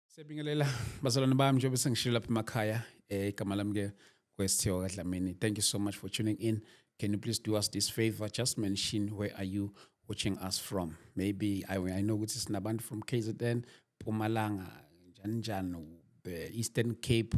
Sebingelela bazalwane bami njengoba sengishilo lapha emakhaya eh igama lami ke kwesthiwa kaDlamini. Thank you so much for tuning in. Can you please do us this favor? Just mention where are you watching us from? Maybe I, I know ukuthi sinabantu from KZN, Pumalanga, njani njani, eh, Eastern Cape,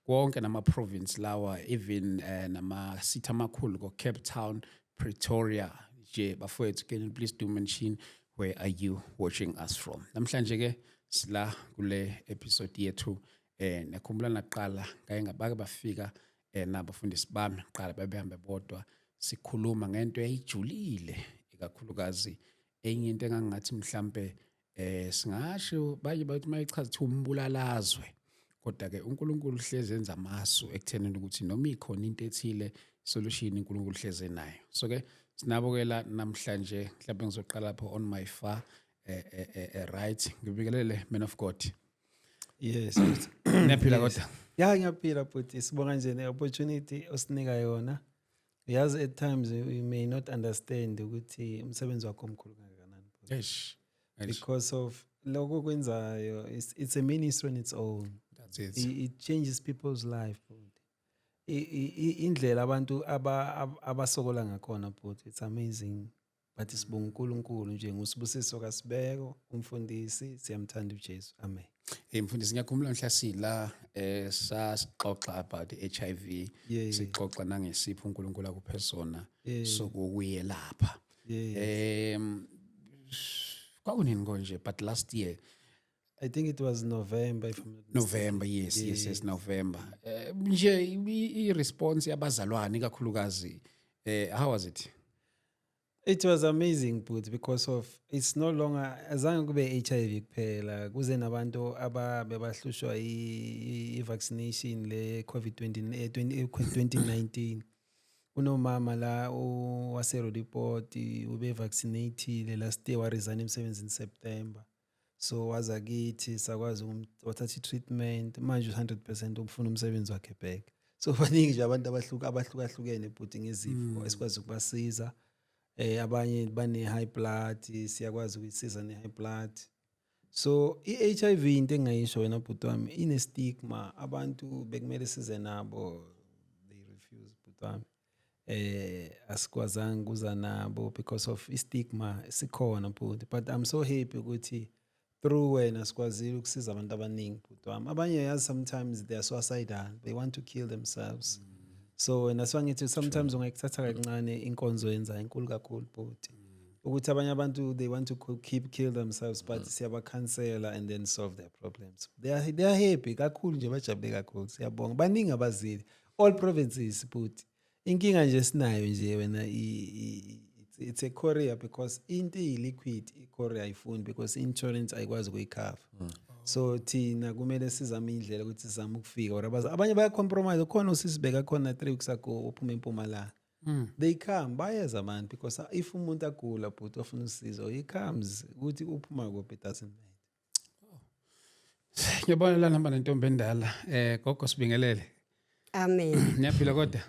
konke nama province lawa even eh, nama city amakhulu ko Cape Town Pretoria nje bafowethu can you please do mention where are you watching us from namhlanje ke sila kule episode yethu eh nekhumbula naqala ngaye ngabake bafika eh nabafundisi bami qala babehambe bodwa sikhuluma ngento eyijulile ikakhulukazi enye into engangathi mhlambe eh singasho baye bathi mayichaza ukuthi umbulalazwe kodwa ke uNkulunkulu uhlezi enza amasu ekuthenini ukuthi noma ikhona into ethile solution uNkulunkulu uhlezi nayo so ke sinabo ke la namhlanje mhlawumbe ngizoqala lapho on my far eh, eh, eh, eh right ngibikelele man of God yes niyaphila kodwa ya ngiyaphila bhuti sibonga nje ne opportunity osinika yona Yazi at times you may not understand ukuthi umsebenzi wakho omkhulu kangakanani. Eish. Eish. Because of lokho kwenzayo it's, it's a ministry on its own. That's it. It, it changes people's life. bhuti. I- i- i- Indlela abantu aba- ab- abasokola ngakhona bhuti it's amazing. bathi sibonga uNkulunkulu nje ngusibusiso kasibeko umfundisi siyamthanda uJesu amen hey mfundisi ngiyakhumbula mhla sila eh sasixoxa about HIV sixoxa nangesipho uNkulunkulu akuphe sona sokuyelapha em kwakunini konje but last year I think it was November if I'm not November yes yes yes, yes November eh, nje i response yabazalwane kakhulukazi eh how was it It was amazing bhuti because of it's no longer azange kube HIV kuphela kuze nabantu ababe bahlushwa i vaccination le COVID 20 2019 kunomama la wase Rodiport ube vaccinated last year wa resign emsebenzini September so waza kithi sakwazi wathatha i-treatment manje u-hundred percent ukufuna umsebenzi wakhe back so baningi nje abantu abahluka abahlukahlukene bhuti ngezifo mm. esikwazi ukubasiza eh abanye bane-high blood siyakwazi ukuyisiza ne-high blood so i-hiv into engingayisho wena bhuti wami ine-stigma abantu bekumele size nabo they refuse bhuti wami eh asikwazanga kuza nabo because of istigma sikhona bhuti but i'm so happy ukuthi through wena sikwazile ukusiza abantu abaningi bhuti wami abanye yazi sometimes they are suicidal they want to kill themselves mm. so wena siwangithi sometimes sure. ungayikuthatha kancane inkonzo yenza inkulu kakhulu bhuti mm. ukuthi abanye abantu they want to keep kill themselves but mm. siyabakhansela and then solve their problems they are, they are happy kakhulu nje bajabule kakhulu siyabonga baningi abazile all provinces bhuti inkinga nje sinayo nje wena it's a courier because into iyi-liquid i-courier ayifuni because i-insurance ayikwazi ukuyikhava mm. so thina kumele sizame indlela ukuthi sizame ukufika or abanye bayacompromise khona usisibeka khona three weeks ago uphuma empumalanga Mm. they come bayeza abantu because if umuntu agula bhuti ofuna usizo he comes ukuthi uphuma kuphi it doesn't matter Ngiyabona la nihamba nentombi endala. Eh gogo sibingelele. Amen. Niyaphila kodwa?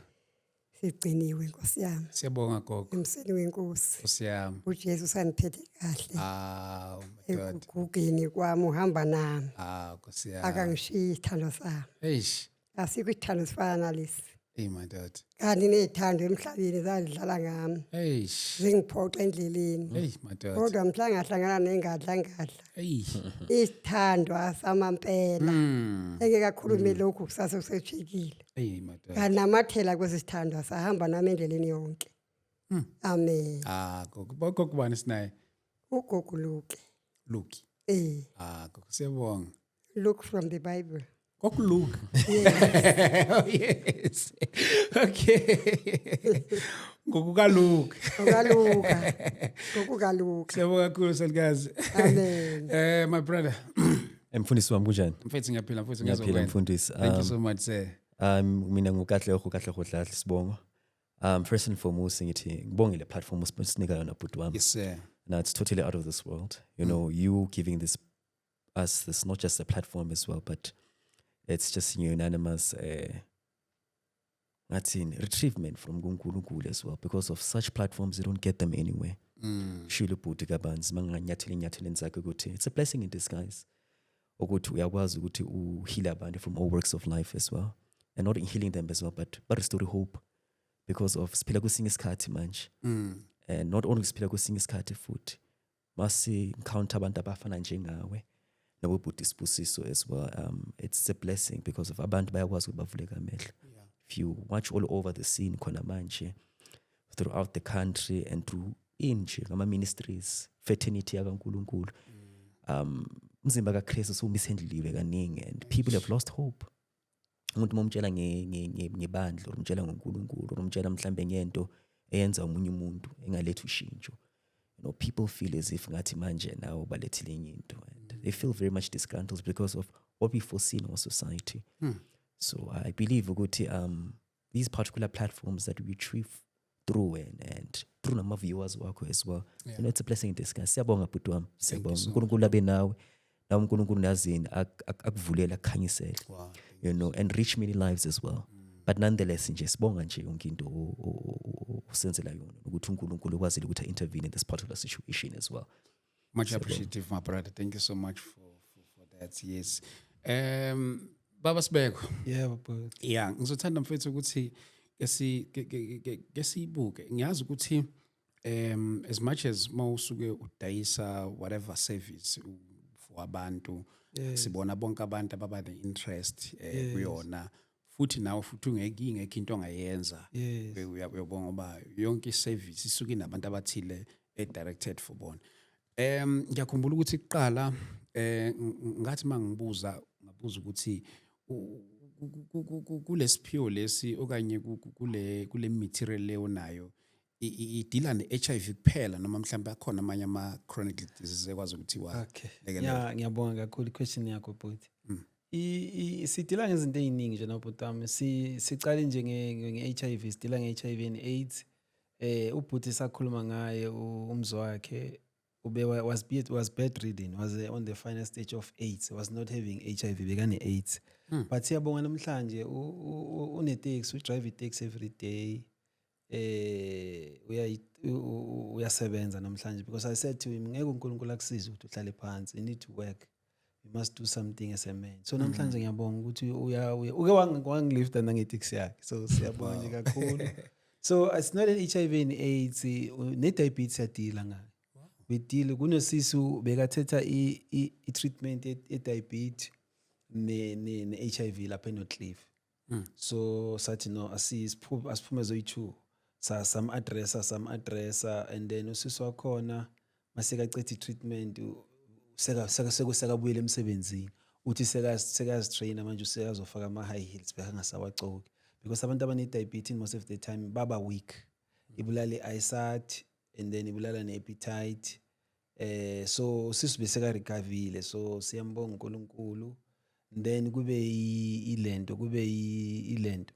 Sigciniwe Nkosi yami. Siyabonga gogo. Emseni wenkosi. Nkosi yami. UJesu saniphethe kahle. Ah, oh my God. Ekugugeni kwami uhamba nami. Ah, Nkosi yami. Akangishiyi isithando sami. Eish. asikho isithando esifana nalesi eyi madoda kanti ney'thando emhlabeni zazidlala ngami eish zingiphoxa endleleni eyi madoda kodwa mhla ngahlangana nengadla ngadla eyi isithandwa samampela Mm. engekakhulume lokhu kusase kusejikile eyi madoda nganamathela kwesi sithandwa sahamba nami endleleni yonke Mm. amen ah gogo kokubani sinaye ugogo luke luki eh ah gogo siyabonga look from the bible Kokulunga. oh yes. Okay. Ngokukaluka. Ngokukaluka. Ngokukaluka. Siyabonga kakhulu selikazi. Amen. Eh my brother. Emfundisi wami kunjani? Mfethu ngiyaphila mfethu ngiyazokwenza. Ngiyaphila mfundisi. Thank you so um, much sir. Um mina ngukahle oho kahle ho dlahle sibongo. Um first and foremost ngithi ngibongile platform usinika yona bhuti wami. Yes sir. Now it's totally out of this world. You mm. know, you giving this us this, not just the platform as well, but it's just you know, unanimous. Uh, ngathini retrievement from kunkulunkulu as well because of such platforms you don't get them anywhere mm. shilo ubhuti kabanzi manganyathela enyatheleni zakhe ukuthi it's a blessing in disguise ukuthi uyakwazi ukuthi uhile abantu from all works of life as well and not healing them as well but but restore hope because of siphila kwesinye isikhathi manje mm. and not only siphila kwesinye isikhathi futhi Masi encounter abantu abafana njengawe nabobhuti isibusiso as well um it's a blessing because of abantu bayakwazi ukuthi bavuleka amehlo if you watch all over the scene khona manje throughout the country and through inje ngama ministries fraternity yakaNkuluNkulu um umzimba kaKristu somisendliwe kaningi and people have lost hope umuntu uma umtshela ngebandla or umtshela ngonkulunkulu or umtshela mhlawumbe ngento eyenza omunye umuntu engalethi ushintsho you know people feel as if ngathi manje nawo balethile enye into and they feel very much disgruntled because of what we foresee in our society hmm. so i believe ukuthi um these particular platforms that we trip through and, and through nama viewers wakho as well yeah. you know it's a blessing in disguise siyabonga bhuti wami siyabonga uNkulunkulu abe nawe nawe uNkulunkulu nazini akuvulela akukhanyisele you know and reach many lives as well mm. but nonetheless nje sibonga nje yonke into usenzela yona ukuthi uNkulunkulu ukwazile ukuthi intervene in this particular situation as well Much appreciative, my brother. Thank you so much for, for, for that. Yes. Um, Baba Sibeko. Yeah, baba. Yeah, ngizothanda mfethu ukuthi ke si ke sibuke. Ngiyazi ukuthi um as much as mawusuke udayisa whatever service for abantu yeah. sibona bonke abantu ababa ne interest eh, kuyona. Yes. futhi nawe futhi ungeke ingekho into ongayenza uyabona ngoba yonke iservice isuke inabantu abathile edirected for bona um ngiyakhumbula ukuthi kuqala eh ngathi mangibuza ngabuza ukuthi kulesiphiwo lesi okanye kule kule material leyo nayo idila ne-HIV kuphela noma mhlawumbe akhona amanye ama-chronic diseases ekwazi ukuthi wa okay. yeah, ngiyabonga kakhulu question yakho bhuti mm. sidila ngezinto ey'ningi nje nobhuti wami sicale nje nge-HIV sidila nge-HIV and AIDS eh ubhuti sakhuluma ngaye umzi wakhe ube was be was bedridden was eh, on the final stage of AIDS was not having HIV bekane AIDS hmm. but siyabonga namhlanje unetex udrive itex every day eh uyayi uyasebenza namhlanje because i said to him ngeke uNkulunkulu akusize ukuthi uhlale phansi you need to work you must do something as a man so mm-hmm. namhlanje ngiyabonga ukuthi uya uke wangilifta nangetaxi yakhe so siyabonga nje kakhulu so it's not an HIV and AIDS ne diabetes yadila ngayo bedile kunosisi bekathetha i, i, i treatment ye, ye diabetes ne, ne, ne HIV lapha enoCliff mm. so sathi no asiphume asiphume zoyi-two sam-addressa sam-addressa and then usisi wakhona masekacethi i-treatment sekabuyele emsebenzini uthi sekazitraina manje usekazofaka ama-high heels bekangasawacoki because abantu abane-diabetes most of the time baba weak ibulala i-isat and then ibulala ne-appetite eh so sisi beseka recoverile so siyambonga uNkulunkulu then kube ilento kube ilento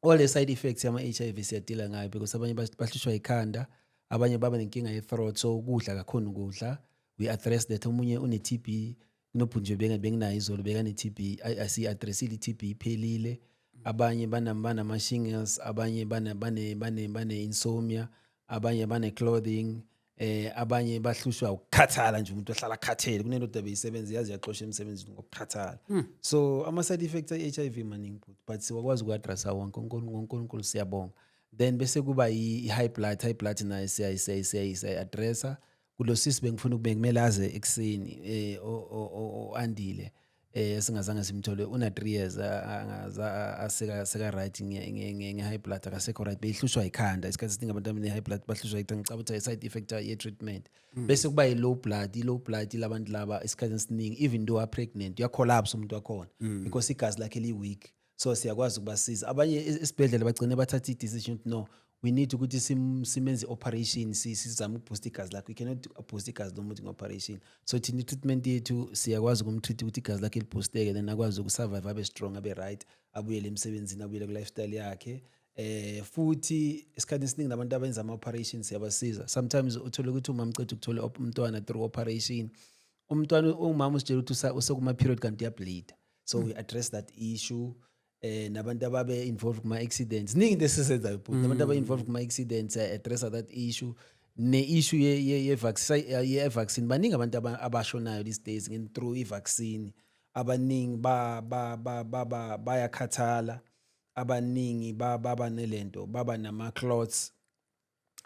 all the side effects yama HIV siyadila ngayo because abanye bahlushwa ikhanda abanye baba nenkinga ye throat so ukudla kakhona ukudla we address that omunye une TB kunobhuti nje beka- benginayo izolo bekane-tb Ay- ay, siyi-adressile i-tb iphelile abanye bana- banama-shingles abanye bana- bane- bane- bane-insomnia abanye bane-clothing eh abanye bahlushwa ukukhathala nje umuntu ohlala akhathele kunendoda beyisebenza yazi yaxosha emsebenzini ngokukhathala so ama-side effects e-h i v maningi bhuti but siwakwazi ukuaddressa wonke uNkulu- ngonkulunkulu siyabonga then bese kuba i-high blood high blood nayo siyayi- siyayi- siyayi- siyayi-addressa kulo sisi bengifuna ukube kumele aze ekuseni eh oandile eh singazange simthole una 3 years angaza aseka seka right nge high blood akasekho right behlushwa ikhanda isikhathi siningi abantu abane high blood bahlushwa ikhanda ngicabanga ukuthi side effect ye treatment mm. bese kuba i low blood i low blood labantu laba isikhathi siningi even though are pregnant uya collapse umuntu wakhona mm. because igazi lakhe li weak so siyakwazi ukubasiza abanye e-, esibhedlela bagcine bathatha i-decision ukuthi no we need ukuthi simenze i-operation sizame ukuboosta igazi lakho you cannot boosta igazi lomuntu nge-operation so thina i-treatment yethu siyakwazi ukumtreat ukuthi igazi lakhe liboosteke then akwazi ukusurvive abe strong abe right abuyele emsebenzini abuyele ku-lifestyle yakhe eh futhi esikhathini esiningi nabantu abenza ama-operation siyabasiza sometimes uthole ukuthi umama uceda ukuthola umntwana through operation umntwana ungumama usitshela ukuthi usekuma-period kanti uyableeda so we address that issue eh nabantu ababe involved kuma accidents ningi into esizenzayo bhuti nabantu ababe involved kuma accidents eh, address that issue ne issue ye ye, ye vaccine ye vaccine baningi abantu aba- abashonayo these days ngen through i vaccine abaningi ba ba ba ba- ba bayakhathala abaningi ba baba nelento baba nama clots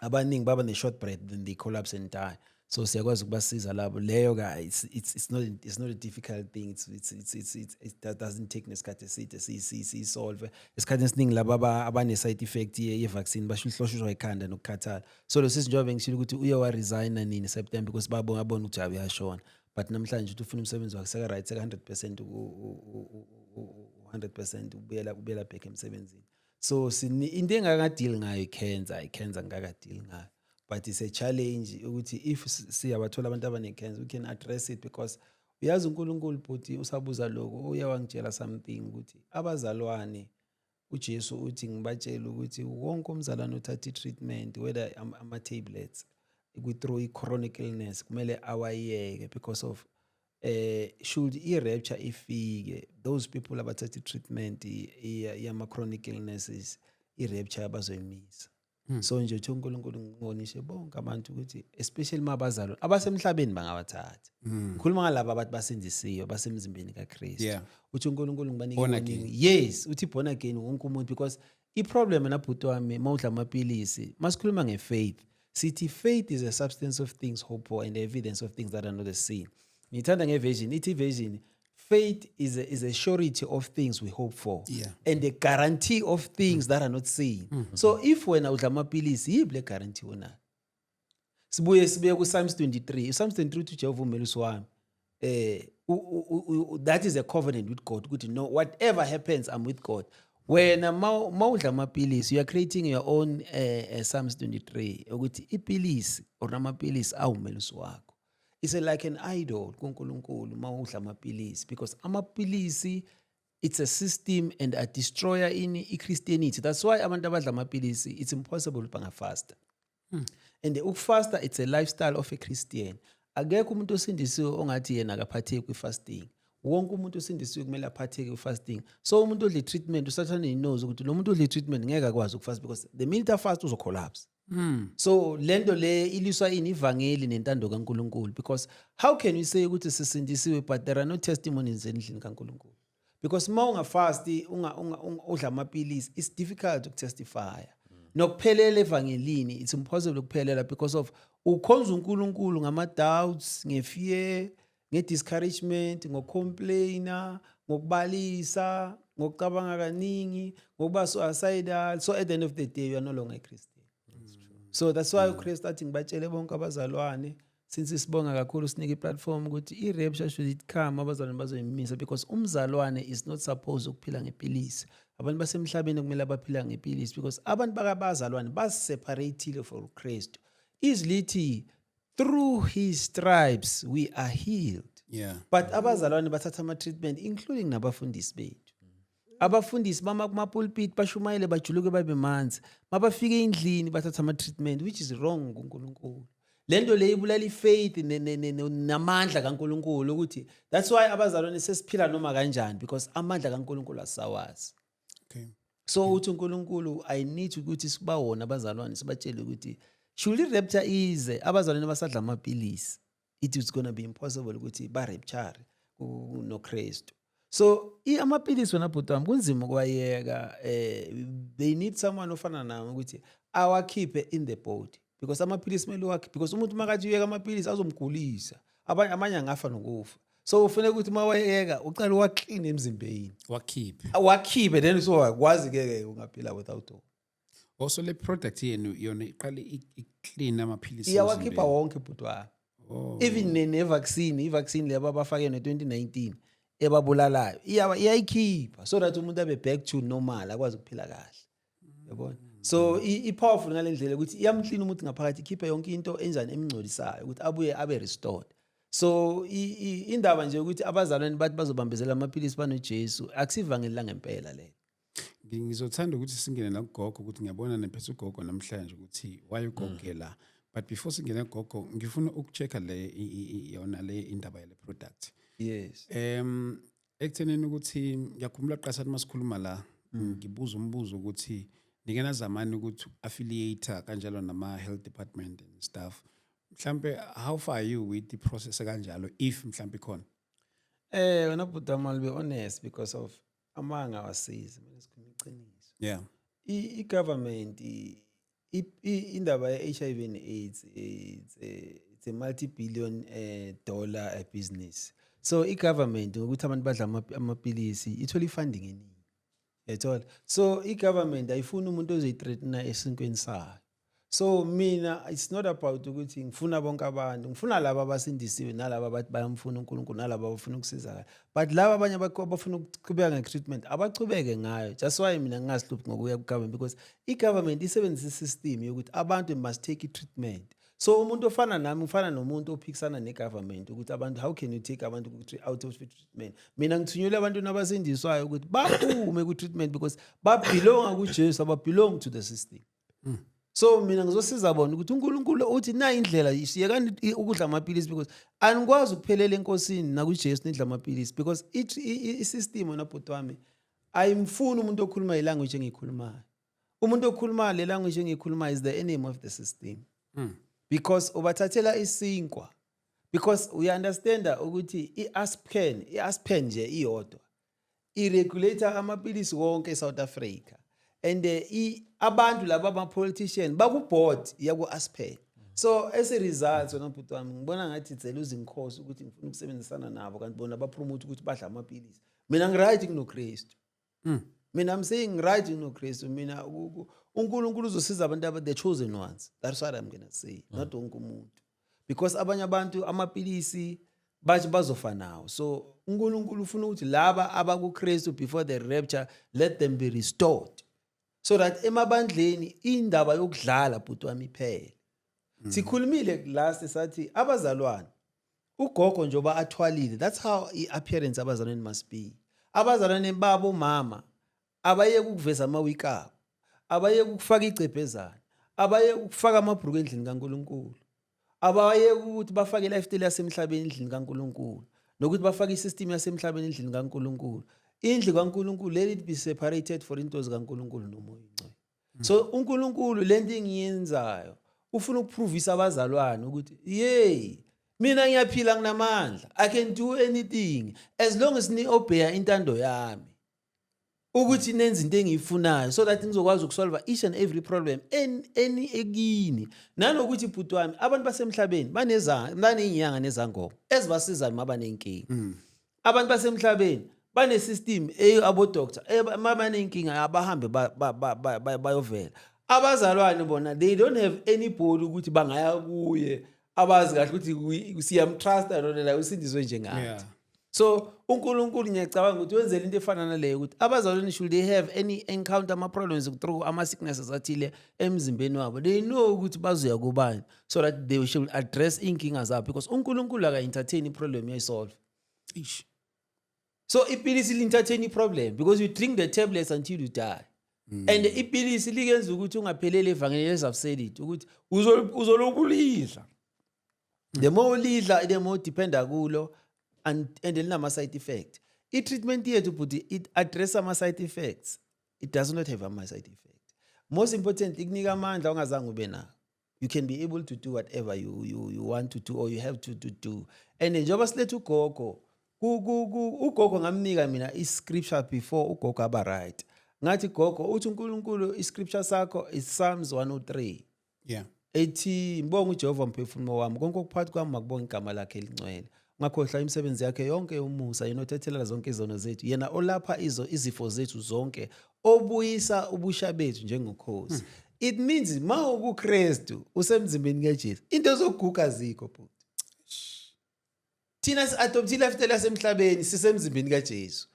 abaningi baba ne-short breath then they collapse and die so siyakwazi ukubasiza labo leyo ka it's, it's, it's, not, it's not a difficult thing it's, it's, it's, it's, it's, it that doesn't take nesikhathi eside siyisolve esikhathini esiningi laba abane-side effect ye-vaccine bahluhloshuzwa ikhanda nokukhathala so lo sisi njengoba bengishilo ukuthi uye waresigna nini september because babona abona ukuthi jabe yashona but namhlanje uthi ufuna umsebenzi wakhe seka-right seka-hundred percent u-hundred percent ubuyela ubuyela back emsebenzini so sini into engaka deal ngayo cancer i cancer ngaka deal ngayo but it's a challenge ukuthi if siyabathola abantu abane cancer we can address it because uyazi uNkulunkulu bhuti usabuza lokho uye wangitshela something ukuthi abazalwane uJesu uthi ngibatshela ukuthi wonke umzalwane uthatha i-treatment whether ama-tablets kwi-through i-chronic illness kumele awayeke because of eh should i rapture ifike those people abathatha treatment yama chronic illnesses i rapture abazoyimisa hmm. so nje uthi uNkulunkulu ngibonishe bonke abantu ukuthi especially mabazalwa abasemhlabeni bangabathatha hmm. ngikhuluma ngalabo abathi basindisiwe basemzimbeni kaKristu uthi uNkulunkulu ngibanike yes uthi born again wonke umuntu because iproblem na bhuti wami mawudla amapilisi masikhuluma ngefaith sithi faith is a substance of things hope for and evidence of things that are not seen ngithanda ngeversion ithi version faith is a, is a surety of things we hope for yeah. and a guarantee of things mm. that are not seen mm -hmm. so if wena udla amapilisi yiphi le guarantee onayo sibuye sibuye kuPsalms 23 uPsalms 23 uthi uJehova umelusi wami eh that is a covenant with God ukuthi no whatever happens I'm with God wena mawudla amapilisi you are creating your own eh, eh Psalms 23 ukuthi ipilisi or amapilisi awumelusi wakho it's like an idol kuNkulunkulu mawudla amapilisi because amapilisi it's a system and a destroyer in i-christianity that's why abantu abadla amapilisi it's impossible bangafasta hmm. and ukufasta it's a lifestyle of a christian akekho umuntu osindisiwe ongathi yena akaphatheki kwi-fasting wonke umuntu osindisiwe kumele aphatheke kwi-fasting so umuntu odle treatment usathane inozi ukuthi lo muntu odle treatment ngeke akwazi ukufast because the minute afast uzocollapse Mm. so le nto le iliswa ini ivangeli nentando kankulunkulu because how can you say ukuthi sisindisiwe but there are no testimonies endlini kankulunkulu because uma ungafasti unga, unga, unga, udla amapilisi it's difficult ukutestifya nokuphelela evangelini it's impossible ukuphelela because of ukhonza unkulunkulu ngama-doubts ngefear nge-discouragement ngocomplaina ngokubalisa ngokucabanga kaningi ngokuba suicidal so at the end of the day you are no longer a christian so that's why ukristu athi ngibatshele bonke abazalwane since sibonga kakhulu sinike iplatform ukuthi i-rapture should it come abazalwane bazoyimisa because umzalwane is not supposed ukuphila ngepilisi abantu basemhlabeni kumele abaphila ngepilisi because abantu bakabazalwane baseparathile for ukristu izwi lithi through his stripes we are healed yeah. but abazalwane bathatha ama-treatment including nabafundisi bethu abafundisi bama kumapulpit bashumayele bajuluke babe manzi mabafika endlini bathatha ama-treatment which is wrong kunkulunkulu le nto le ibulala ifaith namandla kankulunkulu ukuthi that's why abazalwane sesiphila noma kanjani because amandla kankulunkulu asawazi okay. so uthi unkulunkulu i need ukuthi sibawona abazalwane sibatshele ukuthi shuli rapture ize abazalwane basadla amapilisi it is gonna be impossible ukuthi barepture nokristu so amapilisi wena bhuti wami kunzima ukuwayeka um they need someone ofana nami ukuthi awakhiphe in the body because amaphilisi kumele wakhe because umuntu makathi uyeka amaphilisi azomgulisa abanye amanye angafa nokufa so ufuneka ukuthi uma wayeka uqale waklini emzimbeni wakhiphe wakhiphe then so wakwazi ke ke ungaphila without Also le product yenu yona iqale iclean amaphilisi. Iyawakhipha wonke bhuti wami. Oh. Even ne, ne vaccine, i vaccine leba abafake ne 2019 ebabulalayo. Iyawa iyayikhipha so that umuntu abe back to normal akwazi ukuphila kahle. Yabona? So i powerful ngalendlela ukuthi iyamclean umuntu ngaphakathi ikhiphe yonke into enjani emngcolisayo ukuthi abuye abe restored. So indaba nje ukuthi abazalwane bathi bazobambezela amaphilisi banoJesu akusivangeli langempela lelo. ngizothanda ukuthi singene nakugogo ukuthi ngiyabona nemphetha ugogo namhlanje ukuthi why ugoge mm. la but before singene gogo ngifuna ukucheck le yona le indaba yale product yes em ekuthenini ukuthi ngiyakhumbula qasani masikhuluma la mm. ngibuza umbuzo ukuthi nike nazamani ukuthi affiliate kanjalo nama health department and stuff mhlambe how far are you with the process kanjalo if mhlambe khona eh wena bhuti wami be honest because of amanga awasizi mina sikhuluma iqiniso yeah i government indaba ye HIV and AIDS it's a, it's a multi billion uh, eh, dollar uh, business so i government ukuthi abantu badla amapilisi ithola ifunding eningi yathola so i government ayifuni umuntu ozoyithreatena esinkweni sayo so mina it's not about ukuthi ngifuna bonke abantu ngifuna laba abasindisiwe nalaba abathi bayamfuna uNkulunkulu nalaba abafuna ukusizakala but laba abanye abafuna ukuqhubeka nge-treatment abachubeke ngayo just why mina ngingasihluphi ngokuya ku-government because i-government isebenzisa i-system yokuthi abantu must take i-treatment so umuntu ofana nami ufana nomuntu ophikisana ne-government ukuthi abantu how can you take abantu out of treatment mina ngithunyelwe abantu nabasindiswayo ukuthi baphume ku-treatment because babhilonga kujesu ababhilongi to the system mm. so mina ngizosiza bona ukuthi unkulunkulu uthi na indlela yekani ukudla amapilisi because anikwazi ukuphelela enkosini nakwijesu nidla amapilisi because isystem wena bhuti wami ayimfuni umuntu okhuluma ilanguage engiyikhulumayo umuntu okhuluma le language engiyikhuluma is the enemy of the system mm. because ubathathela isinkwa because uyaunderstanda ukuthi i-aspen i-aspen nje iyodwa iregulator amapilisi wonke eSouth Africa and eh, i abantu laba ama politician baku board yaku Aspen so as a result wena bhuti wami ngibona ngathi dzela uzinkosi ukuthi ngifuna ukusebenzisana nabo kanti bona ba promote ukuthi badla amapilisi mina ngi right kuno Christ mm. mina i'm saying right kuno Christ mina uNkulunkulu uzosiza abantu aba the chosen ones that's what i'm going to say mm. not wonke umuntu because abanye abantu amapilisi bathi bazofa nawo so uNkulunkulu ufuna ukuthi laba abakuKristu before the rapture let them be restored so that emabandleni indaba yokudlala bhuti wami iphele mm. sikhulumile last sathi abazalwane ugogo njoba athwalile that's how i-appearance abazalwane must be abazalwane babo mama abayeke ukuveza amawiki abo abayeke ukufaka igcebhezana abayeke ukufaka amabhruku endlini kaNkulunkulu abayeke ukuthi bafake i-lifestyle yasemhlabeni endlini kaNkulunkulu nokuthi bafake i-system yasemhlabeni endlini kaNkulunkulu indlu kaNkulunkulu let it be separated for into zikaNkulunkulu nomoya ongcwele so uNkulunkulu lento engiyenzayo ufuna ukupruvisa abazalwane ukuthi yey mina ngiyaphila nginamandla i can do anything as long as ni-obeya intando yami ukuthi nenze into engiyifunayo so that ngizokwazi ukusolva each and every problem eni ekini nanokuthi bhuti wami abantu basemhlabeni baney'nyanga nezangoma ezibasizayo uma banenkinga mm. abantu basemhlabeni banesystem abodoctor uma banenkinga abahambe bayovela abazalwane bona they don't have any body ukuthi bangaya kuye abazi kahle ukuthi siyamtrusta lona la usindiswe njengathi so unkulunkulu ngiyacabanga ukuthi wenzela into efana naleyo ukuthi abazalwane should they have any encounter ama-problems through ama-sicknesses athile emzimbeni wabo they know ukuthi bazoya kubani so that they should address iy'nkinga zabo because unkulunkulu aka-entertain i-problem uyayisolve Eish. so ipilisi li-entertain i-problem because you drink the tablets until you die mm. and ipilisi likenza ukuthi ungapheleli evangeli as i've said it ukuthi uzol- uzolokhu ulidla the more ulidla the more dependa kulo and and linama side effect i treatment yethu bhuti it address ama side effects it does not have ama side effects most important ikunika amandla ongazange ube nawo you can be able to do whatever you, you, you want to do or you have to, to do and njengoba siletha ugogo ugogo ngamnika mina i-scripture before ugogo aba right ngathi gogo uthi unkulunkulu i-scripture sakho is psalms 103 yeah ethi ngibonga uJehova mphefumulo wami konke okuphakathi kwami makubonga igama lakhe elingcwele ngakhohlwa imisebenzi yakhe yonke yomusa yena othethelela zonke izono zethu yena olapha izo izifo zethu zonke obuyisa ubusha bethu njengokhosi hmm. it means ma ukuKristu usemzimbeni kaJesu into zoguga zikho bhuti thina si-adoptile after lasemhlabeni sisemzimbeni kajesu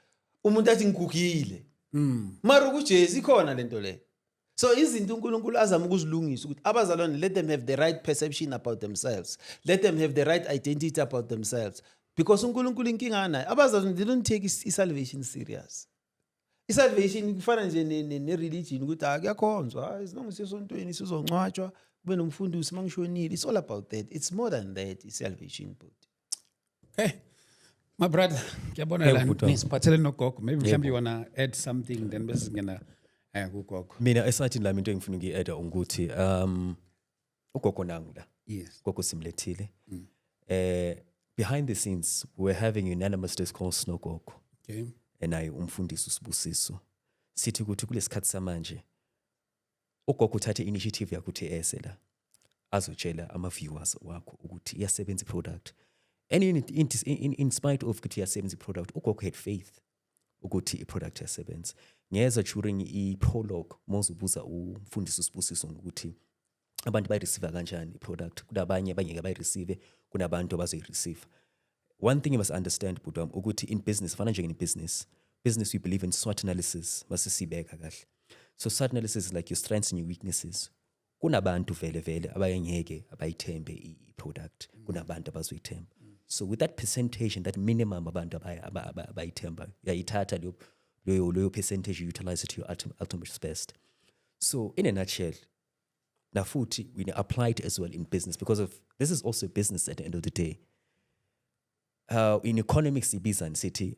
umuntu athi ngigugile mm. mara ukujesu ikhona le nto leyo so izinto unkulunkulu azama ukuzilungisa ukuthi abazalwane let them have the right perception about themselves let them have the right identity about themselves because unkulunkulu inkinga anayo abazalwane they don't take i-salvation serious isalvation kufana nje ne-religion ukuthi hayi kuyakhonzwa hayi as long as siyosontweni sizoncwatshwa kube nomfundisi uma ngishonile it's all about that it's more than that i-salvation but hey my brother ngiyabona Hey, la bhuti wami. nisiphathele nogogo maybe mhlawumbe you wanna add something then bese singena eh kugogo mina esathini lami into engifuna ukuyi-ada ukuthi um ugogo nangu la yes gogo simlethile mm. eh behind the scenes we were having unanimous discourse nogogo okay naye umfundisi usibusiso sithi ukuthi kulesikhathi samanje ugogo uthathe initiative yakuthi ese la azotshela ama viewers wakho ukuthi iyasebenza iproduct and in, in, in, in spite of ukuthi iyasebenza iproduct ugogo had faith ukuthi iproduct yasebenza ngeza during iprologue mozubuza umfundisi usibusiso ngokuthi abantu bayireceive kanjani iproduct kunabanye abangeke bayireceive kunabantu abazoyireceive one thing you must understand bhuti wami ukuthi in business fana nje business business we believe in SWOT analysis masisibeka kahle so SWOT analysis is like your strengths and your weaknesses kunabantu vele vele abayengeke abayithembe i-product kunabantu abazoyithemba so with that percentage and that minimum abantu abayithemba uyayithatha leyo leyo percentage you utilize it to your ultimate best so in a nutshell now futhi we apply it as well in business because of this is also business at the end of the day uh, in economics ibizani sithi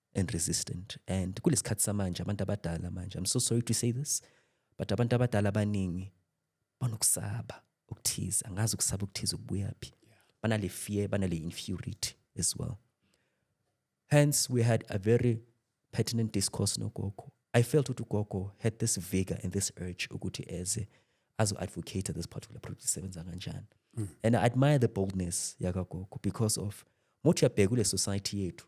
and resistant and kulesikhathi samanje abantu abadala manje i'm so sorry to say this but abantu abadala abaningi banokusaba ukuthiza angazi ukusaba ukuthiza ukubuya phi banale fear banale inferiority as well hence we had a very pertinent discourse nogogo i felt ukuthi ugogo had this vigor and this urge ukuthi eze azo-advocate this particular project isebenza kanjani mm. and i admire the boldness yakagogo because of mothi uyabheka kule society yethu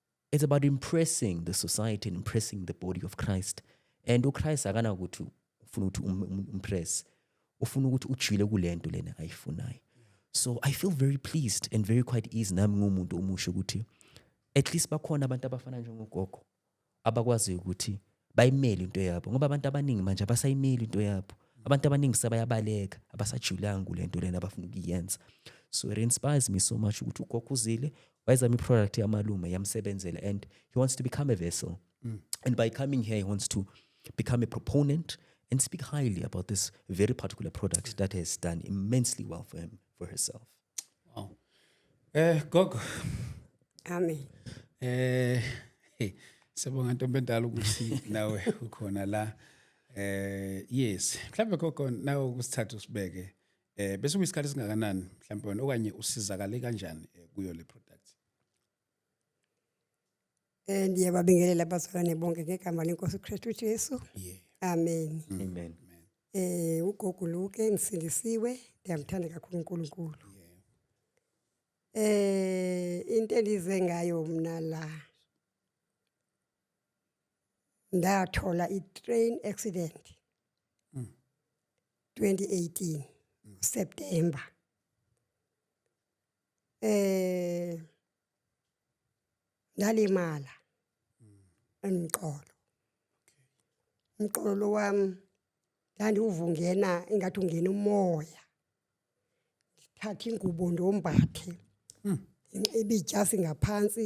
it's about impressing the society and impressing the body of christ and uchrist akanakuthi ufuna ukuthi um, um, umpress ufuna ukuthi ujwile kule nto lena ayifunayo so i feel very pleased and very quite easy nami ngumuntu omusha ukuthi at least bakhona abantu abafana njengogogo abakwaziyo ukuthi bayimele into yabo ngoba abantu abaningi manje abasayimeli into yabo abantu abaningi sebayabaleka abasajulanga kule nto lena abafuna ukuyenza so it inspires me so much ukuthi ugogo uzile wayezama i-product yamalume yamsebenzela and he wants to become a vessel mm. and by coming here he wants to become a proponent and speak highly about this very particular product that has done immensely well for him for herself Wow. Eh gogo. Amen. Eh hey sebonga ntombi endala ukuthi nawe ukhona la. Eh yes, mhlawumbe gogo nawe ukusithatha usibeke. Eh bese kuyisikhathi singakanani mhlawumbe wena okanye usizakale kanjani eh, kuyo le product? Eh ndiyababingelela abazalwane bonke ngegama lenkosi uKristu Jesu. Yeah. Amen. Amen. Eh ugogo Luke ngisindisiwe ndiyamthanda kakhulu uNkulunkulu. Eh into endize ngayo mina la ndathola i-train accident 2018 September eh ngalimala emqolo umqolo wami ndandiwuvungena ingathi ungena umoya ngithathe ingubo ndombathe hmm. ngibe ijasi ngaphansi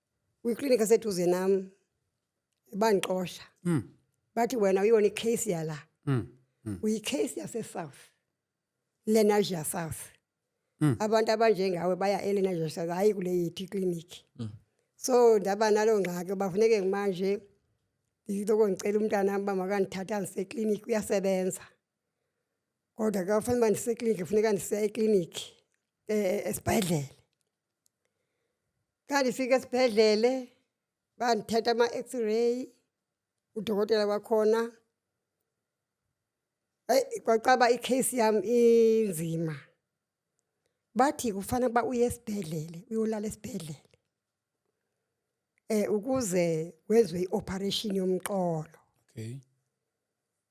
kwiklinikhi eseduze nam bandixosha mm. bathi wena uyona ikheyisi yala mm. mm. uyikheyisi yasesouth lenasia south mm. abantu abanjengawe baya elenasia south hayi kule yethu iklinikhi mm. so ndaba naloo ngxaki bafuneke manje ndiloko ndicela umntana uba makandithatha ndiseklinikhi uyasebenza kodwa ke ufanele uba ndiseklinikhi funeka ndisiya eklinikhi um esibhedlele Ngandifika esibhedlele bandithatha ama-x-ray udokotela wakhona eyi kwacaba i-case yami inzima bathi kufanele uba uye esibhedlele uyolala esibhedlele um ukuze wenziwe i-operation yomqolo okay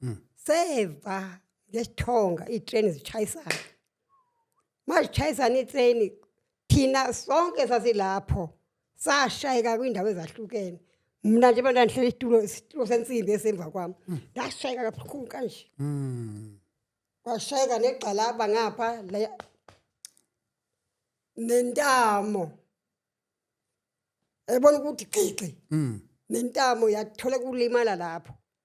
mm. seva ngesithonga itreni zishayisana mazishayisana itreni thina sonke sasilapho sashayeka kwindawo ezahlukene mna nje abantu andihlele isitulo isitulo sensimbi esemva kwami mm. ndashayeka kabuhlungu kanje mm. washayeka negxalaba ngapha nentamo ebona ukuthi gxigxi mm. nentamo yathola kulimala lapho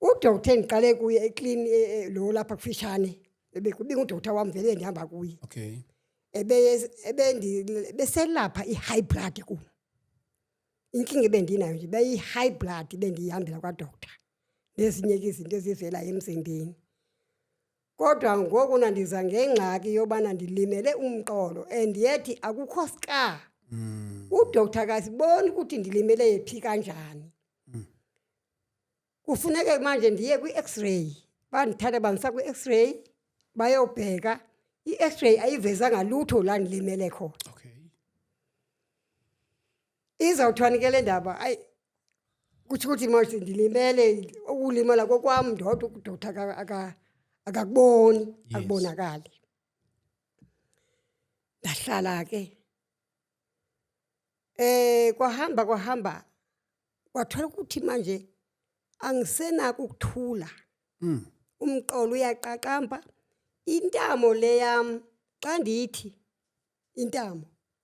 udoktar engiqale kuye eclean e, e, lo lapha kufishane ebekubinga udoktar wami vele endihamba kuye okay beselapha i-high blood ku inkinga ebendinayo nje beyi-high blood bendiyihambela kwadoktar nezinye-ke izinto ezivelayo emzimbeni Kodwa ngoku nandiza ngengxaki yobana ndilimele umqolo and yet akukho ska. Mm. Udoctor akasiboni ukuthi ndilimele phi kanjani. Mm. Kufuneke manje ndiye kwi-X-ray. Bandithatha bandisa kwi-X-ray bayobheka i-X-ray ayivezanga lutho la ndilimele khona. Okay. izawuthwani ke le ndaba ayi kutsho ukuthi mos ndilimele ukulimala kokwam ndodwa ukudotha akakuboni akubonakali ndahlala ke eh kwahamba kwahamba kwathola ukuthi manje angisenako ukuthula mm. umqolo uyaqaqamba intamo leyam xa ndithi intamo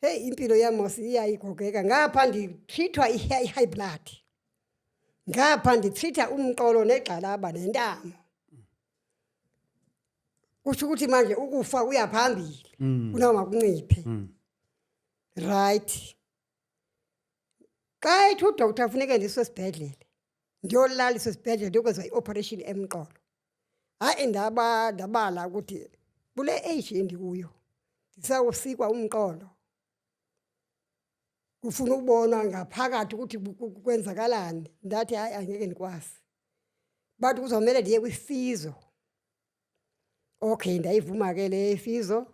Heyi impilo yamos iyayigogeka ngapha ngithithwa i-high blood ngapha ngithitha umqolo negxalaba nentamo kusho ukuthi manje ukufa uya phambili mm. kunoma kunciphe mm. right xa ethi udoktar funeke ndiswe esibhedlele ndiyolaliswa esibhedlele ndiyokwenzwa i-operation emqolo hayi ndaba ndabala ukuthi kule age endikuyo ndisawusikwa umqolo kufuna ukubona ngaphakathi ukuthi kwenzakalani ndathi hayi angeke ndikwazi bathi kuzomele ndiye kwisizo okay ndayivuma ke le isizo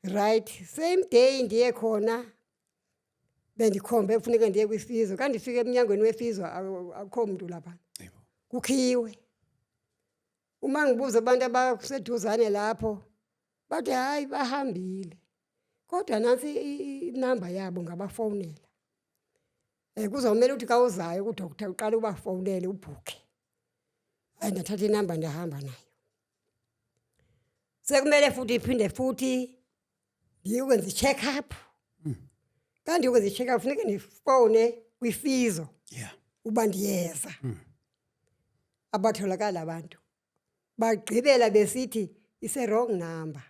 right same day ndiye khona bendikhombe kufuneka ndiye kwisizwe ka ndifike emnyangweni wesizwe akukho mntu lapha kukhiwe uma ngibuza abantu abaseduzane lapho bathi hhayi bahambile kodwa nansi inamba yabo ngabafonela um eh, kuzomele ukuthi kawuzayo kudokta uqale ubafonele ubhukhe ayi ndathatha inamba ndahamba nayo sekumele futhi iphinde futhi ngiyokwenza i-check up mm. kanti ngiyokwenza i-check up funeke ndifowune kwifizo yeah. uba ndiyeza mm. abatholakala abantu bagqibela besithi ise-wrong number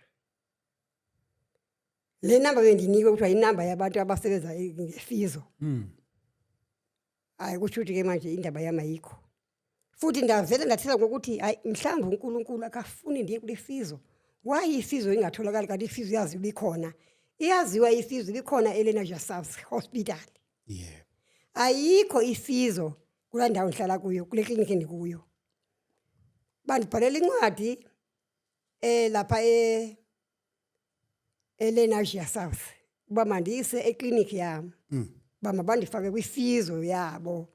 le namba bendinikwe kuthiwa yinamba yabantu abasebenza ngefizo mm. hayi kutsho ukuthi ke manje indaba yam ayikho futhi ngavele ngathela ngokuthi hayi mhlawumbe uNkulunkulu akafuni ndiye kulesizwe why isizwe ingatholakali kanti isizwe yazi likhona iyaziwa isizwe likhona elena Jasavs hospital yeah ayikho isizwe kula ndawo ngihlala kuyo kule clinic endikuyo bandibhalela incwadi eh lapha eh elenasia south uba mandiyise ekliniki yam mm. uba mabandifake kwifizo yabo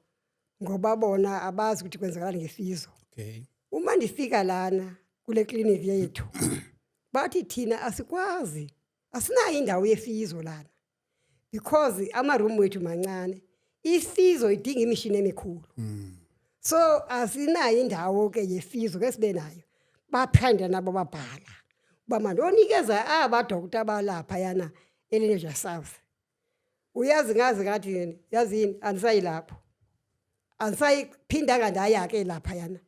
ngoba bona abazi ukuthi kwenzakalani ngefizo okay. uma ndifika lana kule kliniki yethu bathi thina asikwazi asinayo indawo yefizo lana because ama-room wethu mancane isizo idinga imishini emikhulu mm. so asinayo indawo ke yesizo ke sibe nayo baphanda nabo babhala uba manje onikeza abadokta abalapha yana eleneja south uyazi ngazi ngathi yini yazi yini andisayi lapho andisayiphindanga ndaya-ke lapha yana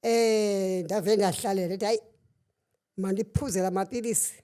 um ndave ndahlalela ethi hayi mandiphuzela amapilisi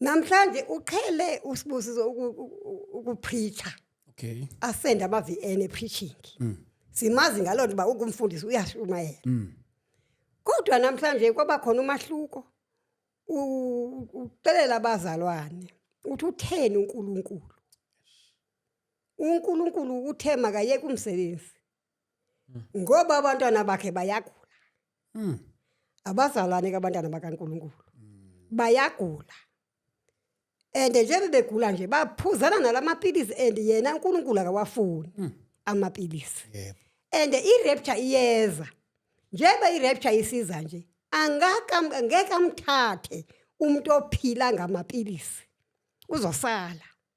Namhlanje uqhele usibusizo ukupreacher. Okay. Asenda ama VN e preaching. Mm. Simazi ngalona uba ukumfundisi uyashumayela. Mm. Kodwa namhlanje kwaba khona umahluko. Ucelela abazalwane. Uthi utheni uNkulunkulu? uNkulunkulu uthe makayeke umsebenzi Hmm. Ngoba abantwana bakhe bayagula. Hmm. Abazalwane kabantwana bakaNkulunkulu. Hmm. Bayagula. And njengoba begula nje baphuzana nalamaphilisi and yena uNkulunkulu akawafuni hmm. amaphilisi. Yebo. And i-rapture iyeza. Njengoba i-rapture isiza nje angaka ngeke amthathe umuntu ophila ngamaphilisi. Uzosala.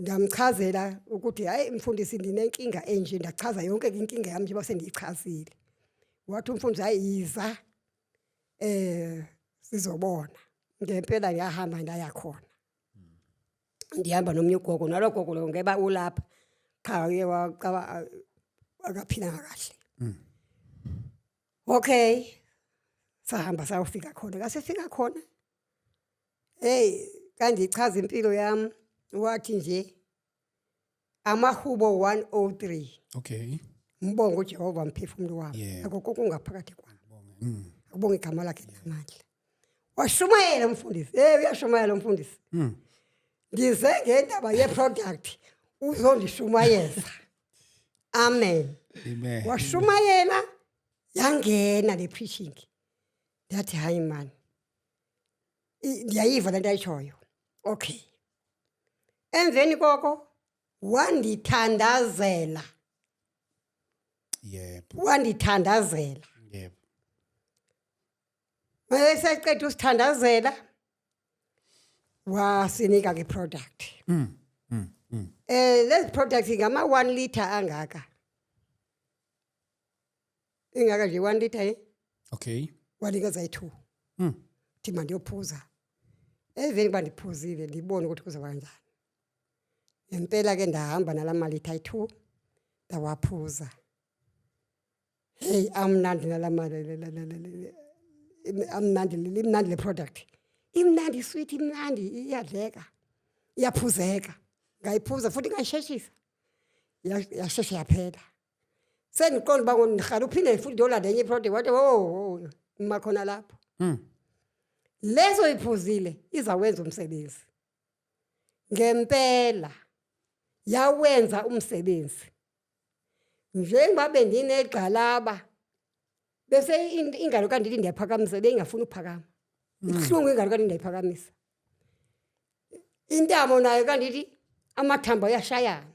Ngamchazela ukuthi hayi mfundisi ndinenkinga enje ndachaza yonke inkinga yami njengoba sendiyichazile. Wathi umfundisi hayi yiza eh sizobona. Ngempela ngiyahamba ndaya khona. Ndihamba nomunye ugogo nalo gogo lo ngeba ulapha qha uye waqaba akaphilanga kahle. Mm. Okay. Sahamba sayofika khona. Kasifika khona Hey kangichaza impilo yami wathi nje amahubo 103 okay ngibonga uJehova mphefumulo wami yeah. akukho kungaphakathi kwami mm. akubonga igama lakhe namandla washumayela umfundisi hey uyashumayela umfundisi mm. ngize ngendaba yeproduct uzondishumayeza amen washumayela yangena le preaching Ndathi hayi man. I- Ndiyayiva lento ayishoyo. Okay. Emveni koko wandithandazela, yebo wandithandazela. yebo Mayeseqeda usithandazela wasinika ke product. Mm, mm, mm. Eh lezi products ngama 1 liter angaka. ingaka nje one liter ye okay wanikeza i-two mm. thi mandiyophuza eveni kuba ndiphuzile ndibone ukuthi kuzoba kanjani ngempela ke ndahamba nala malitha ayi-two ndawaphuza heyi amnandi nala amnandi limnandi le product imnandi isweet imnandi iyadleka iyaphuzeka ngayiphuza futhi ngayisheshisa yasheshe yaphela sengiqonda uba ngomrhala uphinde futhi ndiyolanda enye iproject wathi wo ngima khona lapho hmm. leso iphuzile izawenza umsebenzi ngempela yawenza umsebenzi njengoba bendinegxalaba bese ingalo kanti ndiyaphakamisa beyingafuni ukuphakama hmm. ibuhlungu ingalo kanti ndiyayiphakamisa intamo nayo kanti ithi amathambo ayashayana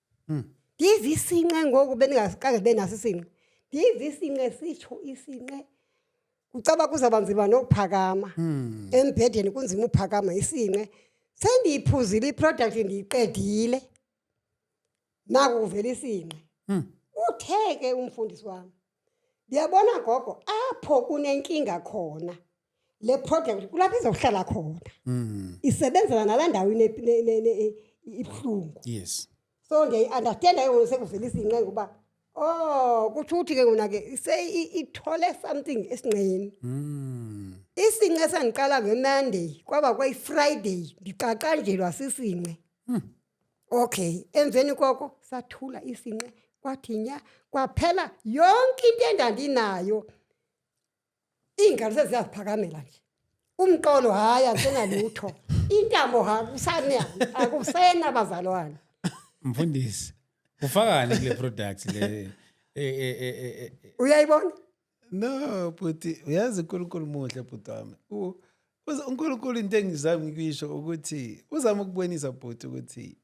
Hmm. Yize isinqe ngoku beningaqange sibe naso isinqe. Yize isinqe sisho isinqe. Ucaba kuzaba nzima nokuphakama. Hmm. Embhedeni kunzima ukuphakama isinqe. Sengiyiphuzile iproduct ngiyiqedile. Naku kuvela isinqe. Hmm. Utheke umfundisi wami. Uyabona gogo apho kunenkinga khona le project kulapho izohlala khona. Mm. Isebenzela nala ndawo ine ne- ne- ne- ibuhlungu. Yes. So ngiyayi understand ayo sekuvela izinqe ngoba oh kusho ukuthi ke ngona ke se i- ithole something esinqeni. Mm. Isinqe sangiqala ngeMonday kwaba kwayiFriday ngiqaqanjelwa sisinqe. okay emveni koko sathula isinqe kwathi nya kwaphela yonke into endandinayo iy'ngalo seziyaziphakamela nje umqolo hhayi ansenalutho intamo hakusane akusena bazalwane mfundisi ufakani kule product le e, e, e, uyayibona no bhuti uyazi unkulunkulu muhle bhuti wami unkulunkulu into engizama ukuyisho ukuthi uzama ukubonisa bhuti ukuthi